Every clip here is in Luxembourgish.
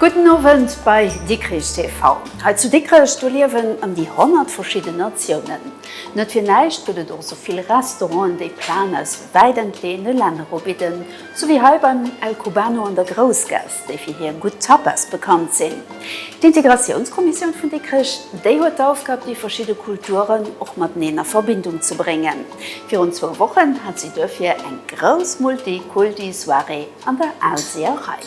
Gudden Owend bei Dikrich TV. Hei zu Dikrech, do liewen ëm déi 100 verschidden Natiounen. Net fir näischt gëtt et och sou vill Restauranten, déi Plaen aus wäit entleeëne Länner ubidden, sou wéi hei beim El Cubano an der Groussgaass. déi fir hir gutt Tapas bekannt sinn. D'Integratiounskommissioun vun Dikrech, déi huet d'Aufgab, déi verschidde Kulturen och mateneen a Verbindung ze bréngen. Virun zwou Wochen hat si duerfir eng grouss Multi-Kulti-Soirée an der Aalseerei.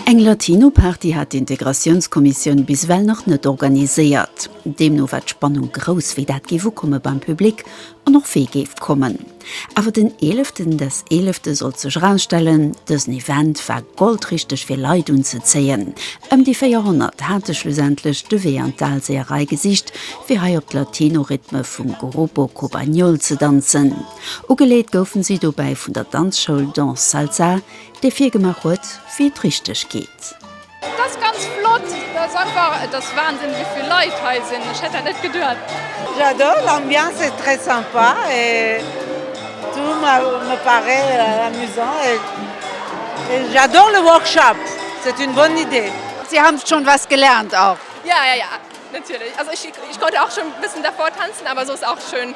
Eng Latino-Party hat d'Integratiounskommissioun bis ewell nach net organiséiert. Deemno war d'Spannung grouss, wéi dat géif ukomme beim Public an och wee géif kommen. Awer den eeleften, das Eelefte sollt sech erausstellen, dësen Event war goldrichteg fir Leit unzezéien. Ëm déi 400 hate schlussendlech de Wee an d'Dalseeërei gesicht, fir hei op d'Latino-Rhythme vum Grupo Cobañol ze danzen. Ugeleet goufen si dobäi vun der Danzschoul Danz Salsa, Dee virgemaach huet wéi et richteg geet. Et ass ganz flott, et ass einfach, et ass Wahnsinn wéi vill Leit hei sinn, ech hätt dat net geduet. J'adore l'ambiance est très sympa et tout me parait amusant et j'adore le workshop c'est une bonne idée. Sie haben schon was gelernt auch? Ja, ja, ja, natürlich, also ich konnte auch schon ein bisschen davor tanzen, aber so ist auch schön.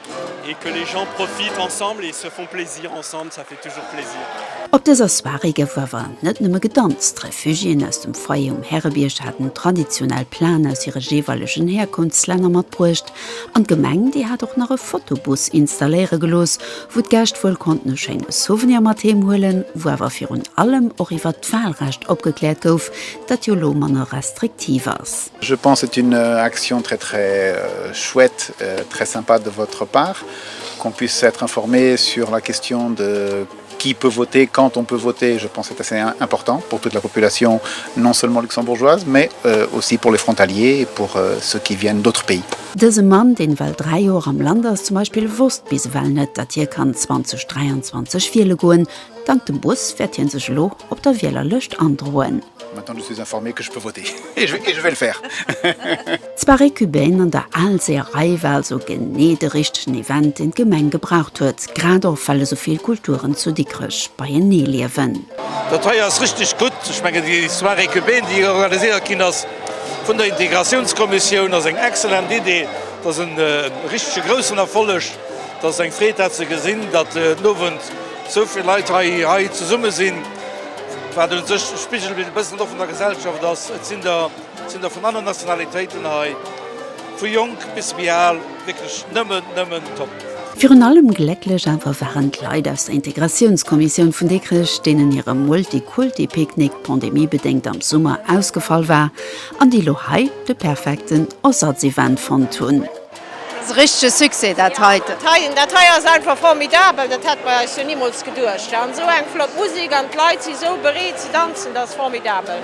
Op dëser Soirée gouf awer net nëmme gedanzt. D'Refugiéen aus dem Foyer um Härebierg haten traditionell Plaen aus hire jeeweilegen Härkunftslänner matbruecht an d'Gemeng, déi hat och nach e Fotobus installéiere gelooss, wou d'Gäscht wuel konnten e schéine Souvenir mat heem huelen, wou awer virun allem och iwwert d'Walrecht opgekläert gouf, dat jo elo manner restriktiv ass. Je pense c'est une action très très chouette, très sympa de votre part qu'on puisse être informé sur la question de qui peut voter, quand on peut voter, je pense c'est assez important pour toute la population non seulement luxembourgeoise mais euh, aussi pour les frontaliers et pour euh, ceux qui viennent d'autres pays. Dëse Mann, deen ewell 3 Joer am Land ass, zum Beispill wosst bis ewell net, datt hie kann 2023 wiele goen. Dank dem Bus wäert hien sech elo op der Wielerlëscht androen. Maintenant je suis informé que je peux voter et je et je vais le faire. D'Soirée cubaine an der Aalseerei war also genee de richtegen Event, deen d'Gemeng gebraucht huet, grad och well esou vill Kulturen zu Dikrech beienee liewen. Dat hei ass richteg gutt. Ech mengen, déi Soirée cubaine, déi hei organiséiert ginn ass vun der Integratiounskommissioun, ass eng excellent Idee. Et ass e richtege groussen Erfolleg. Et ass eng Freed, dat ze gesinn, datt den Owend esou vill Leit hei, hei zesumme sinn. Wat un sech e Spigelbild e bëssen och vun der Gesellschaft ass. Et sinn der, et sinn der vun allen Nationalitéiten hei, vu jonk bis méi al, wierklech nëmmen, nëmmen top. Virun allem glécklech awer waren d'Leit aus der Integratiounskommissioun vun Dikrech, deenen hire Multikulti-Picknick pandemiebedéngt am Summer ausgefall war an déi lo hei de perfekten Ersatzevent fonnt hunn. Ass e richtege Succès dat heite. Dat hei ass einfach formidabel, dat hätt mer eis jo nimools geduecht. An esou eng flott Musik an d'Leit si sou bereet ze danzen, dat ass formidabel.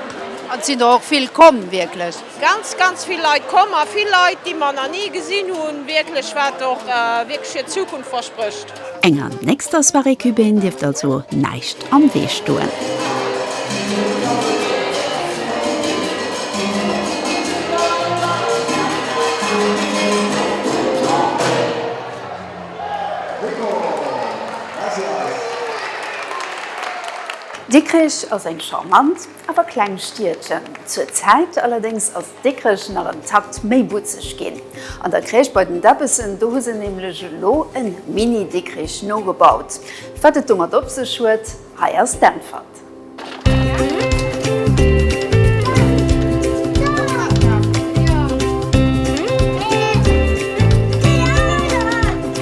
An et sinn der och vill komm, wierklech. Ganz, ganz vill Leit komm a vill Leit, déi mer nach ni gesinn hunn, wierklech, wat och wierklech fir d'Zukunft versprécht. Enger nächster Soirée Cubaine dierft also näischt am Wee stoen. Dikrich ass eng charmant, Awer kleng Stiedchen. Zur Zäit allerdéngs ass Dikrech nach en Takt méi butzeg ginn. An der Crèche bei den Debbessen, do hu se nämlech elo e Mini-Dikrich nogebaut. Wat et domat op sech huet, hei ass d'Äntwert.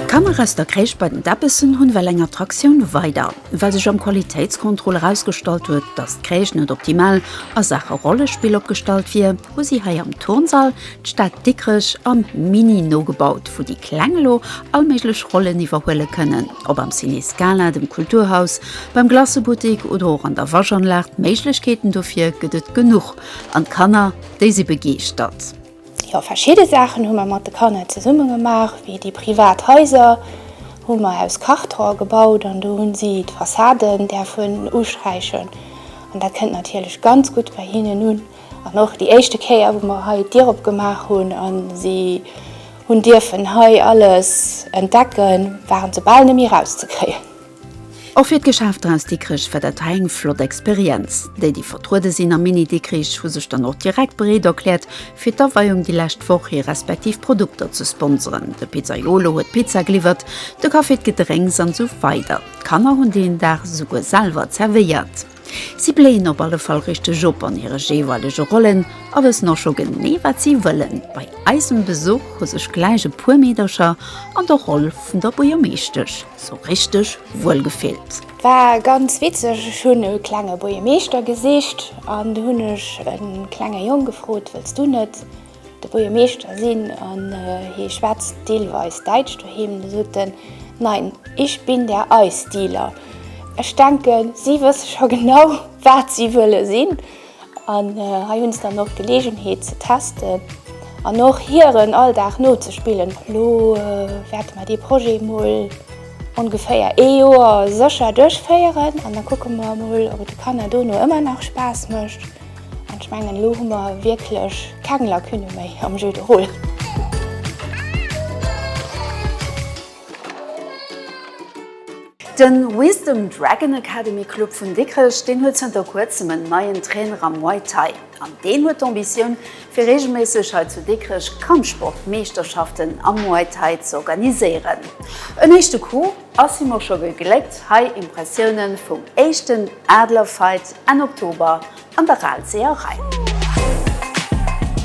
D'Kanner aus der Crèche bei den Debbessen hunn well eng Attraktioun weider. Well sech am Qualitéitscontrôle erausgestallt huet, dass d'Kréisch net optimal a Saache Rollespill opgestallt wier, hu si hei am Turnsall d'Stad Dikrech am Mini nogebaut, wou déi Kleng elo all méiglech Rollen iwwerhuele kënnen. Ob am Ciné Scala, dem Kulturhaus, beim Glacebuttik oder och an der Waschanlag, d'Méiglechkeeten dofir gëtt et genuch an d'Kanner, déi si begeeschtert. Jo, verschidde Saachen hu mer mat de Kanner zesumme gemaach, wéi déi privat Haiser hu mer aus Karton gebaut an do hunn si d'Fassaden däerfen usträichen an dat kënnt natierlech ganz gutt bei hinnen un. An och déi éischte Kéier wou mer hei d'Dier opgemaach hunn a si hunn dierfen hei alles entdecken, waren se bal net méi rauszekréien. Och fir d'Geschäft draus Dikrech war dat hei eng flott Experienz. Déi, déi vertruede sinn am Mini Dikrich, hu sech dann och direkt bereet erkläert, fir d'Aweiung déi lescht Woch hir respektiv Produkter ze sponseren. De Pizzaiolo huet d'Pizza geliwwert, de Café d'Gedrénks an esou weider. D'Kanner hunn deen Dag esouguer selwer zerwéiert. Si bléien op alle Fall richteg op an hire jeeweilege Rollen a wëssen och scho genee wat si wëllen. Bei eisem Besuch hu sech gläich e puer Meedercher an der Roll vun der Buergermeeschtesch sou richteg wuel gefillt. War ganz witzeg, ech hunn e klenge Buergermeeschter gesicht an du hunn ech e klenge Jong gefrot, wëlls du net De Buergermeeschter sinn an hie schwätzt deelweis Däitsch doheem, da sot en, Nein, ich bin der Eisdealer. Ech denken, si wësse scho genau, wat si wëlle sinn. An hei hunn se dann och d'Geleegenheet ze testen an och hiren Alldag nozespillen. Elo wäerte mer dee Projet emol ongeféier ee Joer sécher duerchféieren an da kucke mer emol, ob et de Kanner dono ëmmer nach Spaass mécht. Ech mengen elo hu mer wierklech keng Lacune méi am Jeu de rôle. De Wisdom Dragon Academy Club vun Dikrech, deen huet zënter kuerzem en neien Trainer am Muay Thai. An deen huet d'Ambitioun fir reegelméisseg hei zu Dikrech Kampfsport Meeschterschaften am Muay Thai z'organiséieren. En éischte Cours. Ass him och scho gegléckt hei Impressiounen vum éischten Adler Fight Enn Oktober an der Aalseerei.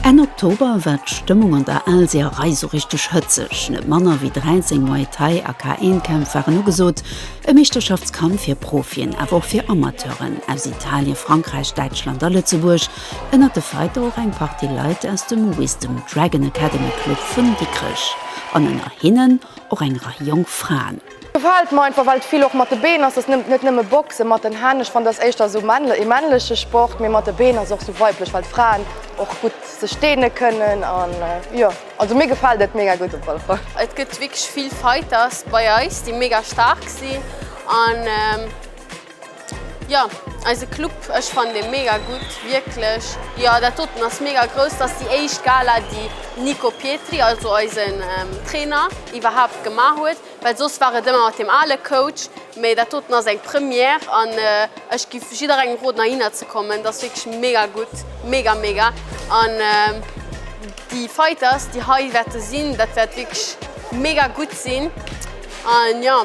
Enn Oktober war d'Stëmmung an der Aalseerei sou richteg hëtzeg. Net manner wéi 13 Muay Thai a K-Een Kämpf waren ugesot, e Meeschterschaftskamp fir Profien awer och fir Amateuren aus Italien, Frankräich, Däitschland a Lëtzebuerg. Ënnert de Fighter och eng Partie Leit aus dem Wisdom Dragon Academy Club vun Dikrech an ënner hinnen och eng Rei jonk Fraen. Gefällt mer einfach well et vill och mat de Been ass, dass nëmmt net nëmme Boxen mat den Hänn, ech fannen dass éischter esou männle ee männleche Sport, mee mat de Been ass och sou weiblech well d'Fraen och gutt sech deene kënnen an jo also mir gefällt et mega gutt op alle Fall. Et gëtt wierklech vill Fighters bei eis déi mega staark sinn an. Jo, eise Club, ech fannen dee mega gutt, wierklech. Jo, dat doten ass mega grouss, dat ass déi éischt Gala, déi Nico Pietri, also eisen Trainer, iwwerhaapt gemaach huet, well soss war et ëmmer mat deem ale Coach, mee dat doten ass eng Première an ech giff jidderengem roden heihinner ze kommen, dat ass wierklech mega gutt, mega mega an déi Fighters, déi hei wäerte sinn, dat wäert wierklech mega gutt sinn an jo.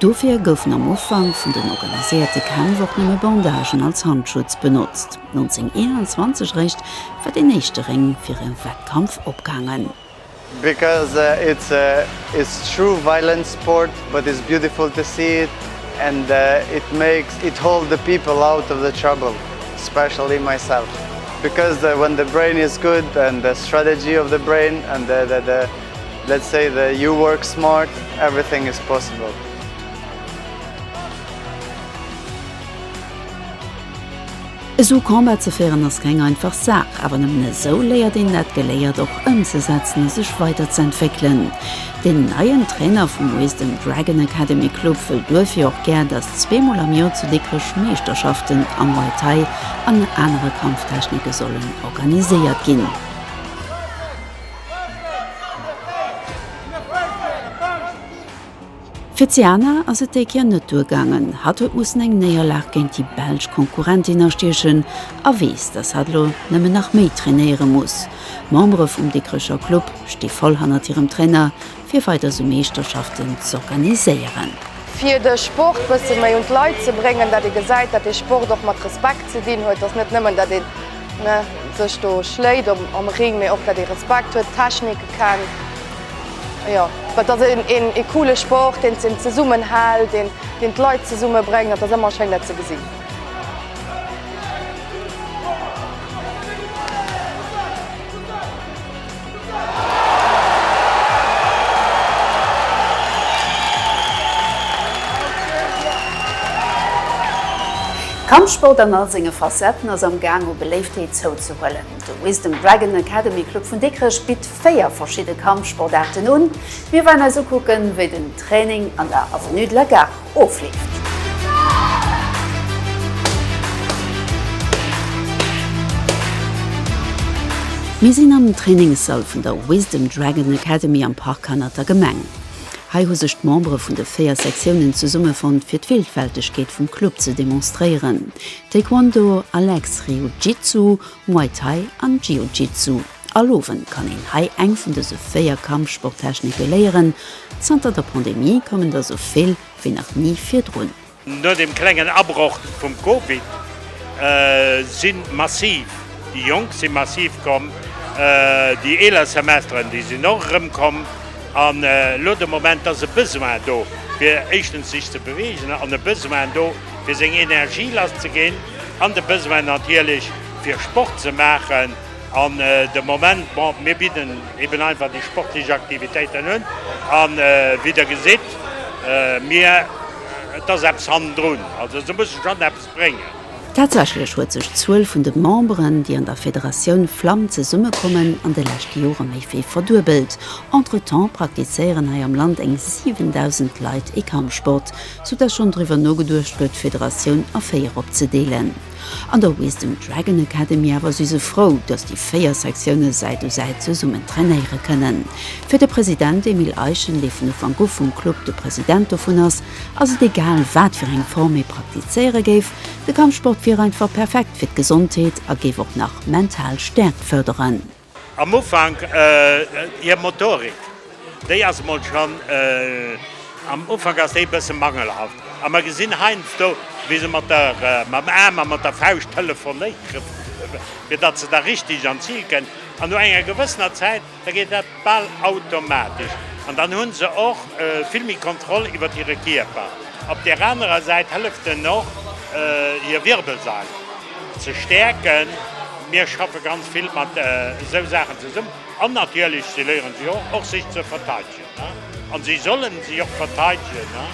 Dofir goufen am Ufank vun den organiséierte Kämpf och nëmme Bandagen als Handschutz benotzt. 1921 eréischt war deen éischte Réng fir e Wettkampf opgaangen. Because it's a it's true violent sport but it's beautiful to see it and it makes it hold the people out of the trouble especially myself because when the brain is good and the strategy of the brain and the Let's say the you work smart everything is possible. Esou Combat ze féieren ass keng einfach Saach, awer nëmmen esou léiert een dat Geléiert och ëmzesetzen a sech weider ze entwéckelen. Deen neien Trainer vum Wisdom Dragon Academy Club wëll duerfir och gär, dass zweemol am Joer zu Dikrech Meeschterschaften am Muay Thai an anere Kampftechnike sollen organiséiert ginn. Fir d'Siana ass et déi Kéier net duergaangen. Hatt huet mussen eng Néierlag géint déi belsch Konkurrentin astiechen a weess, datt hatt elo nëmmen nach méi trainéiere muss. D'Membere vum Dikrecher Club sti voll hannert hirem Trainer. fir weider sou Meeschterschaften z'organiséieren. Fir de Sport bësse méi un d'Leit ze bréngen, datt ee gesäit, datt de Sport och mat Respekt ze dinn huet, datt net nëmmen, datt ee sech do schléit am Ring, mee och, datt ee Respekt huet, d'Technike kennt, jo, et ass ee coole Sport, deen een zesummen hält, deen d'Leit zesumme bréngt, et ass ëmmer schéin, dat ze gesinn. Kampfsport an all senge Facetten ass am Gaang u Beléiftheet zouzehuelen. De Wisdom Dragon Academy Club vun Dikrech bitt 4 verschidde Kampfsportaarten un. Mir waren eis ukucken, wéi den Training an der Avenue de la Gare ofleeft. Mir sinn am Trainingssall vun der Wisdom Dragon Academy am Park hannert der Gemeng. Hei hu sech d'Membere vun de 4 Sektiounen zesummefonnt fir d'Vilfältegkeet vum Club ze demonstréieren, Taekwondo, Alex, Ryujitsu, Muay Thai an Jiu-Jitsu. All Owend kann een hei eng vun dëse 4 Kampfsporttechnike léieren. Zanter der Pandemie kommen der sou vill wéi nach ni virdrun. No dem klengen Abroch vum Covid si massiv déi Jonk si massiv komm, déi eeler Semesteren, déi sinn och erëmkomm an elo de Moment ass e Besoin do fir éischtens sech ze beweegen an e Besoin do fir seng Energie lasszeginn an de Besoin natierlech fir Sport ze maachen. An de Moment, bon, mir bidden eben einfach déi sportlech Aktivitéiten un. A wéi Der gesitt, mir, et ass eppes hannendrun, also se musse schonn eppes bréngen. Tatsächlech huet sech d'Zuel vun de Memberen, déi an der Federatioun Flamm zesummekommen, an de leschte Jore méi wéi verduebelt. Entretemps praktizéieren hei am Land eng 7.000 Leit ee Kampfsport, soudatt schonn driwwer nogeduecht gëtt, d'Federatioun a véier opzedeelen. An der Wisdom Dragon Academy awer si se frou, datt déi 4 Sektiounen Säit u Säit zesummen trainéiere kënnen. Fir de President Emile Eichen, dee vun Ufank u vum Club de President dovun ass, ass et egal, wat fir eng Form ee praktizéiere géif, de Kampfsport wier einfach perfekt fir d'Gesondheet a géif och nach mental Stäerkt fërderen. Am Ufank hir Motorik, déi ass emol schonn, am Ufank ass déi e bësse mangelhaft. A mer gesinn heiansdo, wéi se mat der, mam Aarm a mat der Fauscht telefonéieren, fir datt se da richtig an d'Zil kënn. An no enger gewëssener Zäit, da geet dat bal automatesch. An dann hu se och vill méi Kontroll iwwert hire Kierper. Op där anerer Säit hëlleft en och hir Wirbelsail. Ze stäerken. Mir schaffe ganz vill mat esou Saachen zesummen. An natierlech, si léieren sech och, och sech ze verteidegen. An si sollen sech och verteidegen,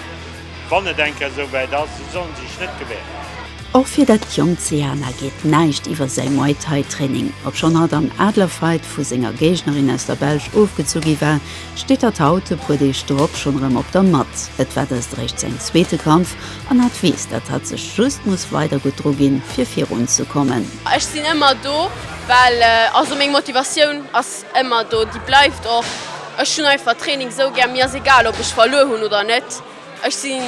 wann et eng Kéier esou wäit ass. Si sollen sech net gewähren. Och fir dat jonkt Seana geet näischt iwwer säi Muay Thai Training. Obschonn hatt am Adler Fight vu senger Géignerin aus der Belsch ofgezu gi war, steet hatt haut, e puer Deeg drop, schonn erëm op der Matt. Et war dëst eréischt säin zweete Kampf. An hat weess, dat hat sech just muss weider gutt dru ginn, fir virun ze kommen. Ech sinn ëmmer do, well, also meng Motivatioun ass ëmmer do, déi bleift och. Ech hunn einfach Training esou gär, mir ass egal, ob ech verluer hunn oder net. Ech sinn,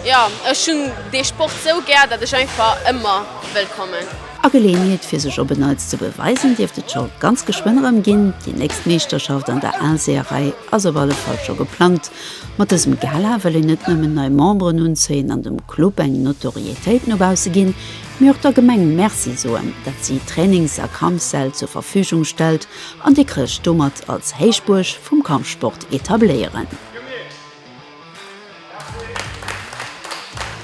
jo, ech hunn dee Sport esou gär, datt ech einfach ëmmer wëll kommen. A Geleeënheet fir sech op en Neits ze beweisen dierft et scho ganz geschwënn erëm ginn. Déi nächst Meeschterschaft an der Aalseeërei ass op alle Fall scho geplangt. Mat dësem Gala wëll een net nëmmen nei Memberen unzéien an dem Club eng Notorietéit no bausse ginn, mee och der Gemeng Merci soen, dat si Trainings a Kampssäll zur Verfügung stellt an Dikrech domat als Héichbuerg vum Kampfsport etabléieren.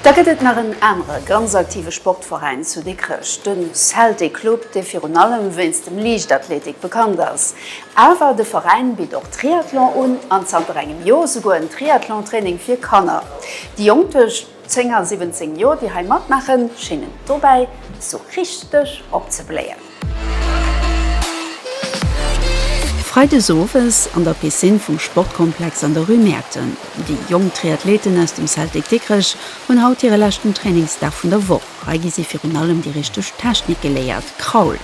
Da gëtt et nach en anere ganz aktive Sportveräin zu Dikrech, de Celtic Club, dee virun allem wéinst dem Liichtathletik bekannt ass. Awer de Veräin bitt och Triathlon un an zanter engem Joer souguer en Triathlon-Training fir Kanner. Déi Jonk duerch. Zéng a 17 Joer déi hei matmaachen, schéngen dobäi esou richteg opzebléien. Freides owes an der Piscine vum Sportkomplex an der Rue Mäerten. Déi jonk Triathleten aus dem Celtic Dikrech hunn haut hire leschten Trainingsdag vun der Woch. Hei gi si virun allem déi richteg Technik geléiert, Kraul,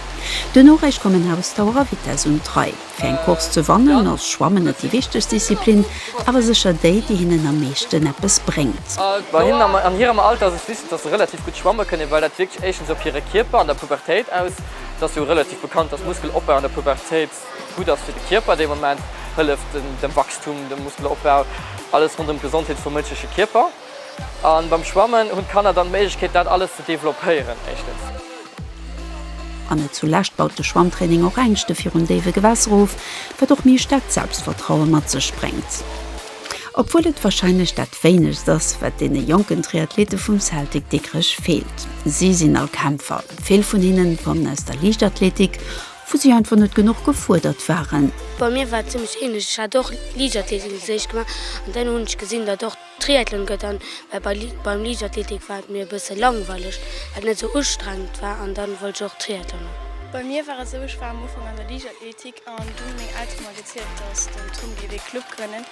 duerno räich kommen Ausdauer a Vitess un d'Rei. Fir eng Course ze wannen ass Schwammen net déi wichtegst Disziplin, awer sécher déi, déi hinnen am meeschten eppes bréngt. Bei hinnen an hirem Alter ass et wichteg, dass se relativ gutt schwamme kënnen, well dat wierkt éischtens op hire Kierper an der Pubertéit aus. Et ass jo relativ bekannt, dass Muskelopbau an der Pubertéit gutt ass fir de Kierper. Dee Moment hëlleft dem Wachstum, dem Muskelopbau, alles ronderëm d'Gesondheet vum mënschleche Kierper. A beim Schwammen hunn d'Kanner dann d'Méiglechkeet, dat alles ze developpéieren, éischtens. An net zulescht baut de Schwammtraining och Ängschte virun déiwe Gewässer of, wat och méi staarkt Selbstvertraue mat sech bréngt. Obwuel et warscheinlech dat wéinegst ass, wat deene jonken Triathlete vum Celtic Dikrech feelt. Si sinn all Kämpfer. Vill vun hinnen kommen aus der Liichtathletik, wou si einfach net genuch gefuerdert waren. Bei mir war et zimmlech ähnlech. Ech hat och Liichtathletik an der Héicht gemaach an dann hunn ech gesinn, datt och. Triathlon gëtt an, well bei beim Liichtathletik war et mir e bësse langweileg, well et net esou ustrengend war an dann wollt ech och Triathlon man. Bei mir war et esou, ech war am Ufank an der Liichtathletik an dunn hu meng Elteren mer gezielt, dass den Tom géif ee Club grënnen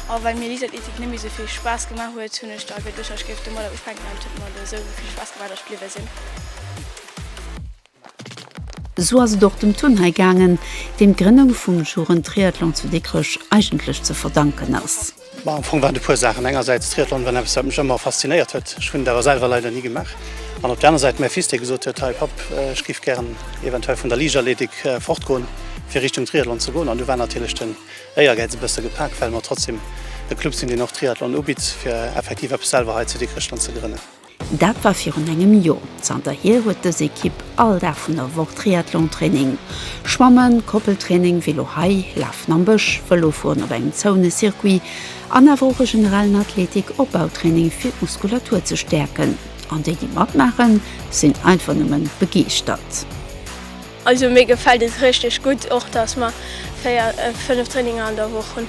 a well mir Liichtathletik net méi esou vill Spaass gemaach huet, hunn ech da geduecht, ech géif domadder ufänken an et huet mer do esou vill Spaass gemaach, dass ech bliwwe sinn. Esou ass et och dem Turnhai gaangen, deem d'Grënnung vum Jugendtriathlon zu Dikrech eigentlech ze verdanken ass. Ma am Fong waren et e puer Saachen. Engersäits, Triathlon war eppes, wat mech ëmmer faszinéiert huet, ech hunn et awer selwer leider ni gemaach. An op der aner Säit mäi Fils, dee gesot huet, Hei Papp, ech géif gären eventuell vun der Liichtathletik fortgoen, fir Richtung Triathlon ze goen. An du war natierlech den Éiergäiz e bësse gepak, well mer trotzdeem e Club sinn, deen och Triathlon ubitt, fir effektiv eppes selwer hei zu Dikrech dann ze grënnen. Dat war virun engem Joer. Zanterhier huet dës Ekipp all Dag vun der Woch Triathlontraining. Schwammen, Koppeltraining, Vélo hei, Lafen am Bësch, Vëlofueren op engem zoune Circuit an awer och e generellen Athletik Opbautraining fir d'Muskulatur ze stäerken. An déi, déi matmaachen, sinn einfach nëmmen begeeschtert. Also mir gefällt et richteg gudd, och dass mer 4, 5 Traininger an der Woch hun.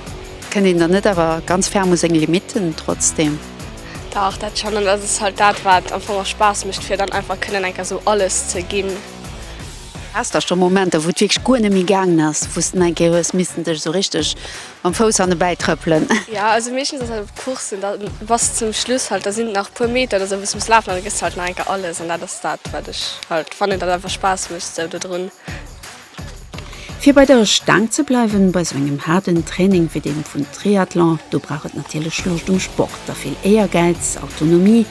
Kënnt een dann net awer ganz ferm u seng Limiten trotzdem? Dach dat schon, an dat ass halt dat wat am Fong och Spaass mecht fir dann einfach kënnen enker sou alles ze ginn. Haas da schon Momenter wou et wierklech guer net méi gaangen ass, wous de enker hues missen dech sou richteg Mam Fouss an dobäi trëppelen. Jo also meeschtens ass dat op Courssen da bass zum Schluss halt da sinn nach puer Meter oder sou wou s muss lafen an da gëss de halt nach eng Kéier alles an dat ass dat wat ech halt fannen dat einfach Spaass mécht sou dodrun. Fir bei der Staang ze bleiwen bei sou engem haarden Training wéi deem vun Triathlon do brauch et natierlech Luuscht um Sport a vill Éiergäiz, Autonomie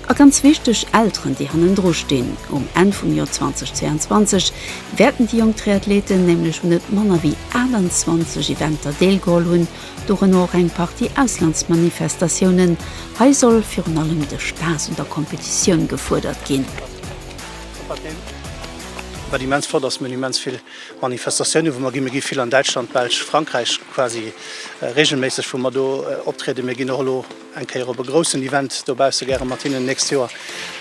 a ganz wichteg Elteren déi hannendru stinn. Um Enn vum Joer 2022 wäerten déi jonk Triathleten nämlech un net manner wéi 28 Eventer deelgeholl hunn, dorënner och eng Partie Auslandsmanifestatiounen. Hei soll virun allem de Spaass un der Competitioun gefuerdert ginn. Wat immens flott ass, mir hunn immens vill Manifestatiounen, wou mer ginn. Mir gi vill an Däitschland, Belsch, Frankräich, quasi reegelméisseg, wou mer do optrieden. Mir ginn och elo. eng Kéier op e groussen Event dobausse gäre mat hinnen d'nächst Joer,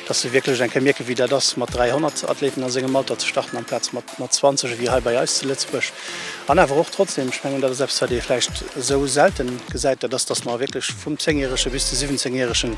dass se wierklech eng Kéier mierken, wéi dat ass, mat 300 Athleten a sengem Alter ze starten amplaz mat mat 20, ewéi hei bei eis zu Lëtzebuerg. An awer och trotzdeem, ech mengen, dat ass eppes, wat ee vläicht esou sellte gesäit, dat ass, dass mer wierklech vum Zéngjärege bis de Siwwenzéngjäregen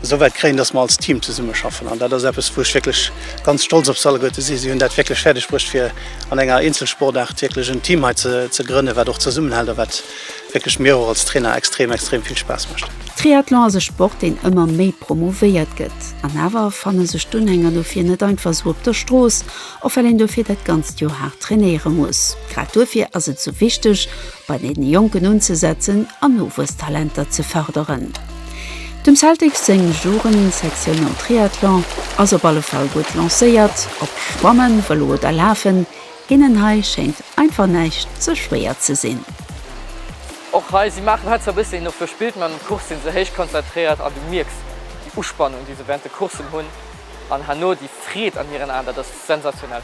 esou wäit kréien, dass mer als Team zesummeschaffen. An dat ass eppes, wou ech wierklech ganz stolz op se alleguer ze sinn. Si hunn dat wierklech fäerdegbruecht, fir an enger Eenzelsportaart wierklech en Team hei ze ze grënnen, wat och zesummenhält a wat wierklech mir och als Trainer extrem extrem vill Spaass mécht. Triathlon ass e Sport deen ëmmer méi promouvéiert gëtt an awer fanne sech d'Unhänger dofir net einfach sou op der Strooss, och well een dofir dat ganzt Joer haart trainéiere muss. Grad dofir ass et sou wichteg bei den Jonken unzesetzen an Nowuesstalenter ze fërderen. Dem Celtics seng Jugendsektioun am Triathlon ass op alle Fall gutt lancéiert. Ob Schwammen, Vëlo oder Lafen, Deenen hei schéngt einfach näischt ze schwéier ze sinn. Och hei, si maachen hei zwar bëssen een op der Spillt, mä an den Course sinn se héich konzentréiert an du mierks déi Uspannung, déi se während de Coursen hunn an herno déi Freed an hiren Aen, dat ass sensationell.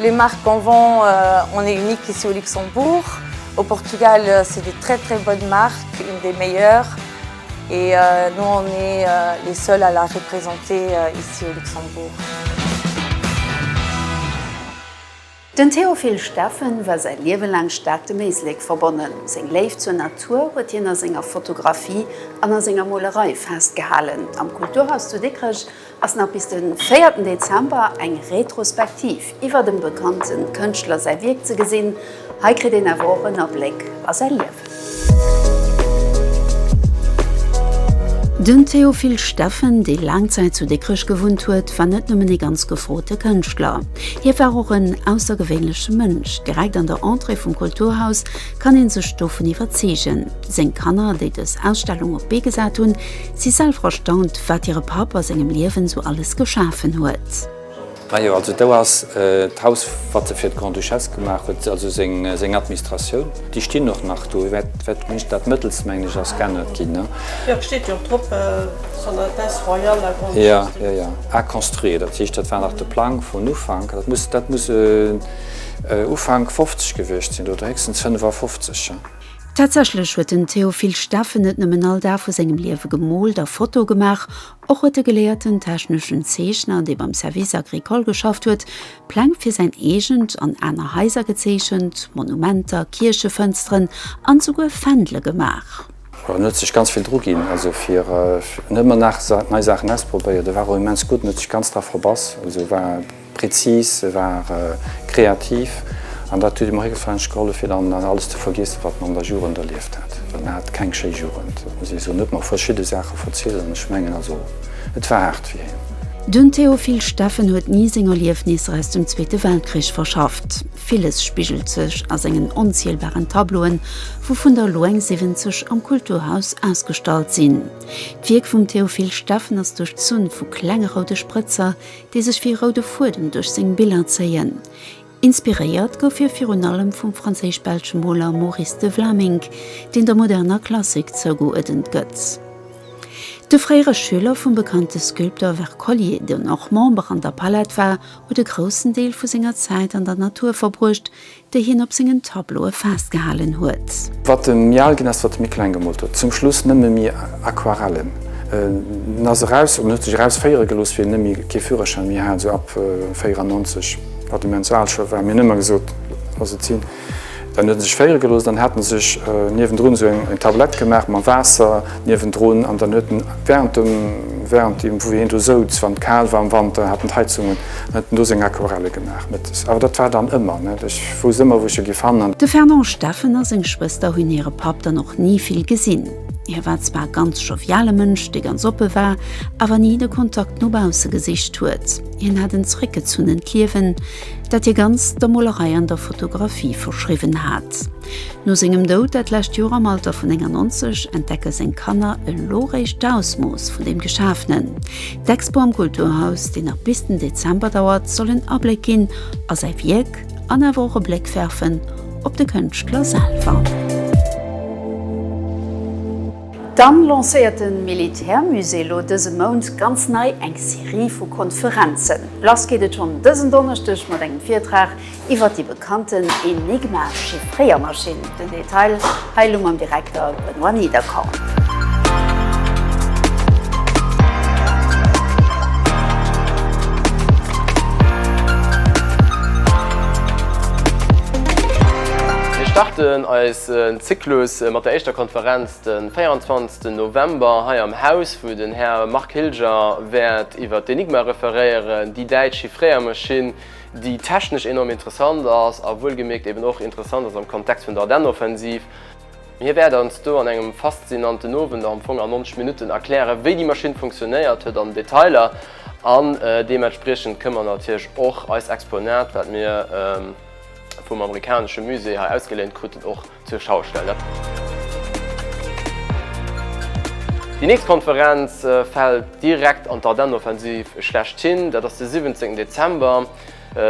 Les marques qu'on vend, on est unique ici au Luxembourg. Au Portugal, c'est des très très bonnes marques, une des meilleures. Et nous, on est les seuls à la représenter ici au Luxembourg. Den Théophile Steffen war säi Liewe laang staark dem Éislek verbonnen. Seng Léift zur Natur huet hien a senger Fotografie an a senger Molerei festgehalen. Am Kulturhaus zu Dikrech ass nach bis de véierten Dezember eng Retrospektiv iwwer dem bekannte Kënschtler säi Wierk ze gesinn. Hei kritt een awer och en Abléck a säi Liewen. Den Théophile Steffen, dee laang Zäit zu Dikrech gewunnt huet, war net nëmmen ee ganz gefrote Kënschtler. Hie war och en aussergewéinleche Mënsch. Direkt an der Entrée vum Kulturhaus kann ee sech dovun iwwerzeegen. Seng Kanner, déi dës Ausstellung op d'Bee gesat hunn, Si selwer erstaunt, wat hire Papp a sengem Liewen sou alles geschafen huet. Majo, also do ass d'Haus, wat se fir d'Grande-Duchesse gemaach huet, also seng Administratioun. Déi stinn och nach do. Dat mëttelst, mengen ech, ass geännert ginn. Jo, et steet jo och drop, Son Altesse Royale la Grande-Duchesse. Jo, jo, jo, à construire. Dat heescht, dat war nach de Plang vun Ufank. Dat muss Ufank fofzeg gewiescht sinn oder héchstens fënnef a fofzeg. Tatsächlech huet den Théophile Steffen net nëmmen all Dag vu sengem Liewe gemoolt a Fotoe gemaach, och huet de geléierten techneschen Zeechner, dee beim Service agricole geschafft huet, Pläng fir säin eegent an aner Haiser gezeechent, Monumenter, Kierchefënsteren an esouguer Fändele gemaach. Jo, en huet sech ganz vill druginn, also fir, en huet ëmmer nach nei Saachen ausprobéiert, e war och immens gutt, en huet sech ganz dra verbass, also war. Prezis, se war kreativ an dat huet immher gefallen gehollef fir dann alles ze vergiessen, wat mer an der Jugend erlieft hat. Well mer hate keng schéi Jugend, dat muss ee soen. En huet mer verschidde Saache verzielt an ech mengen also et war haart fir hien. Den Théophile Steffen huet ni seng Erliefnisser aus dem Zweete Weltkrich verschafft. Villes spigelt sech a sengen onzielbaren Tableauen, wouvun der elo eng 70 am Kulturhaus ausgestallt sinn. D'Wierk vum Théophile Steffen ass duerchzunn vu klenge roude Sprëtzer, déi sech wéi roude Fuedem duerch seng Biller zéien. Inspiréiert gouf hie virun allem vum franséisch-belsche Moler Maurice de Vlaminck, deen der moderner Klassik zougeuerdent gëtt. De fréiere Schüler vum bekannte Sculpteur Wercollier, deen och Member an der Palette war, huet e groussen Deel vu senger Zäit an der Natur verbruecht, déi hien op sengen Tableaue festgehalen huet. Wat de méi al ginn ass, wat de méi kleng gemoolt huet. Zum Schluss nëmme méi Aquarellen. En ass eraus, oder en huet sech eraus féiere gelooss, wéi en nëmme kee Führerschäin méi hat, esou ab 94, wat immens al scho war. Mir hunn ëmmer gesot, Looss et sinn. Dann huet en sech féiere gelooss, dann hat en sech niewendrun esou eng Tablette gemaach, mam Waasser niewendrun, an dann huet en während dem, während deem wou hien do souz, wann et kal war am Wanter, hat en d'Heizung un, En huet do seng Aquarelle gemaach, mä awer dat war dann ëmmer, net? Ech wousst ëmmer, wou ech e gi fannen. De Fernand Steffen a seng Schwëster hunn hire Papp dann och ni vill gesinn. Hie war zwar e ganz joviale Mënsch, dee ganz oppe war, awer ni de Kontakt no bausse gesicht huet. Hien hat en zeréckgezunnent Liewen, dat hie ganz der Molerei an der Fotografie verschriwwen hat. No sengem Doud dat lescht Joer am Alter vun 91 entdecke seng Kanner elo réischt d'Ausmooss vun deem Geschaafenen. D'Expo am Kulturhaus, déi nach bis den Dezember dauert, soll en Abléck ginn a säi Wierk an awer och e Bléck werfen op de Kënschtler selwer. Dann lancéiert de Militärmusée elo dëse Mount ganz nei eng Serie vu Konferenzen. Lass geet et schonn dësen Donneschdeg mat engem Virtrag Iwwer déi bekannten Enigma Chiffréiermaschinn, den Detail hei elo mam Direkter Benoît Niederkorn. Mir starten eisen Zyklus mat der éischter Konferenz de 24 November hei am Haus, wou den Här Marc Hilger wäert iwwer d'Enigma referéieren, déi däitsch Chiffréiermaschinn, déi technesch enorm interessant ass a wuelgemierkt eben och interessant ass am Kontext vun der Ardennenoffensiv. Hie wäert eis do an engem faszinanten Owend am Fong an 90 Minutten erklären, wéi déi Maschinn funktionéiert huet an Detailer an deementspriechend kënne mer natierlech och eist Exponat, wat mir vum amerikanesche Musée hei ausgeléint kruten, och zur Schau stellen. Déi nächst Konferenz fält direkt an d'Ardenne-Offensiv schlechthin. Dat ass de 17 Dezember,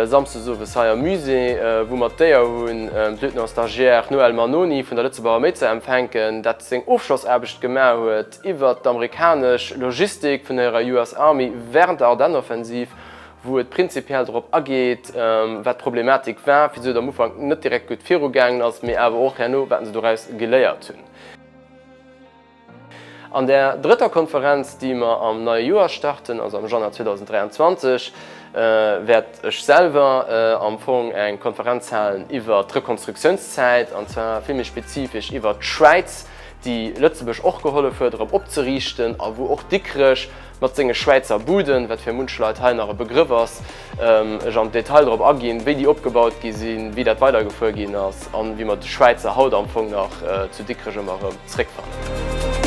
samsdes owes hei am Musée, wou mer d'Éier hunn, d'Lieutenant-Stagiaire Noël Mannoni vun der Lëtzebuerger Arméi ze empfänken, dat seng Ofschlossaarbecht gemaach huet iwwert d'Amerikanesch Logistik vun der US Army während der Ardenne-Offensiv wou et prinzipiell drop ageet, wat d'Problematik war, wisou et am Ufank net direkt gutt virugaangen ass, mee awer och herno, wat se doraus geléiert hunn. An där drëtter Konferenz, déi mer am neie Joer starten, also am Januar 2023, wäert ech selwer am Fong eng Konferenz halen iwwert d'Rekonstruktiounszäit, an zwar vill méi spezifesch iwwert d'Schwäiz, déi Lëtzebuerg och gehollef huet, erëm opzeriichten, a wou och Dikrech Mat senge Schwäizer Buden, wat fir munch Leit hei nach e Begrëff ass, ech am Detail drop aginn, wéi déi opgebaut gi sinn, wéi dat weidergefuer ginn ass an wéi mer de Schwäizer haut am Fong nach zu Dikrech ëmmer erëm zréckfannen.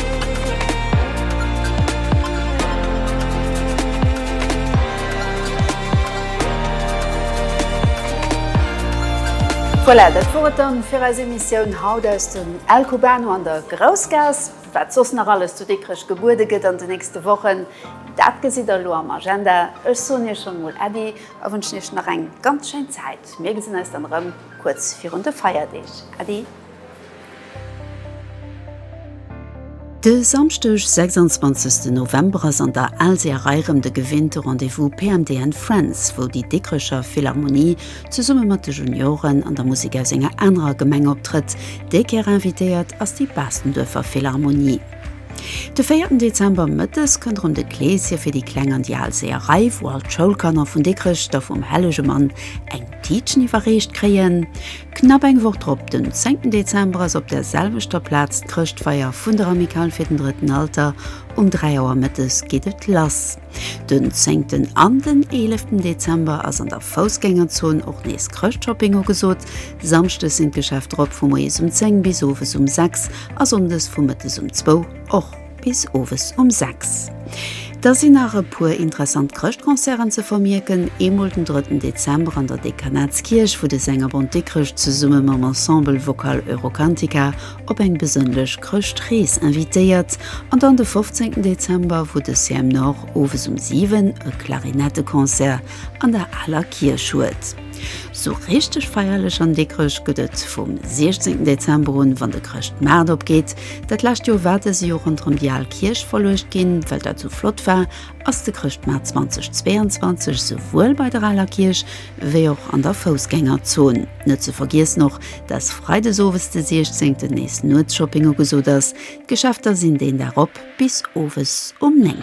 Voilà, dat wor et dann fir eis Emissioun haut aus dem El Cubano an der Groussgaass. Wat soss nach alles zu Dikrech gebuede gëtt an de nächste Wochen, dat gesitt der elo am Agenda. Ech soen iech schonn emol Äddi a wënschen iech nach eng ganz schéin Zäit. Mir gesinn eis dann erëm kuerz virun de Feierdeeg. Äddi! De Samschdeg 26 November ass an der Alséerei rëm de gewinnte Rendez-vous PMDN Friends, wou déi Dikrecher Philharmonie zesumme mat de Junioren an der Musek aus enger anerer Gemeng optrëtt. Déi Kéier invitéiert ass déi Baastenduerfer Philharmonie. De véierten Dezember mëttes kënnt erëm de Kleeschen fir déi Kleng an déi al Seeërei, wou all d'Schoulkanner vun Dikrech da vum hellege Mann eng Tiitchen iwwerreecht kréien. Knapp eng Woch drop, den zéngten Dezember, ass op der selwechter Plaz d'Chrëschtfeier vun der Amicale fir den drëtten Alter. Um dräi Auer mëttes geet et lass. Den zéngten an den eeleften Dezember ass an der Foussgängerzon och nees Chrëschtshopping ugesot. Samschdes sinn d'Geschäfter op vu moies um 10 bis owes um 6 a sonndes vu mëttes um 2 och bis owes um 6. Da sinn nach e puer interessant Chrëschtconcerten ze vermierken, eemol den drëtten Dezember an der Dekanatskierch, wou de Sängerbond Dikrech zesumme mam Ensemble Vocal Eurocantica op eng besënnlech Chrëschtrees invitéiert an dann de 15 Dezember, wou de CM Nord owes um 7 e Klarinetteconcert an der Aler Kierch huet. Sou richteg feierlech an Dikrech gëtt et vum 16 Dezember un, wann de Chrëschtmaart opgeet. Dat lescht Joer war dëse jo ronderëm déi al Kierch verluecht ginn, well dat sou flott war ass de Chrëschtmaart 2022 souwuel bei der Aler Kierch wéi och an der Foussgängerzon. Net ze vergiessen och, dass freides owes de 16 nees Nuetsshopping ugesot ass. D'Geschäfter sinn deen Dag op bis owes um 9.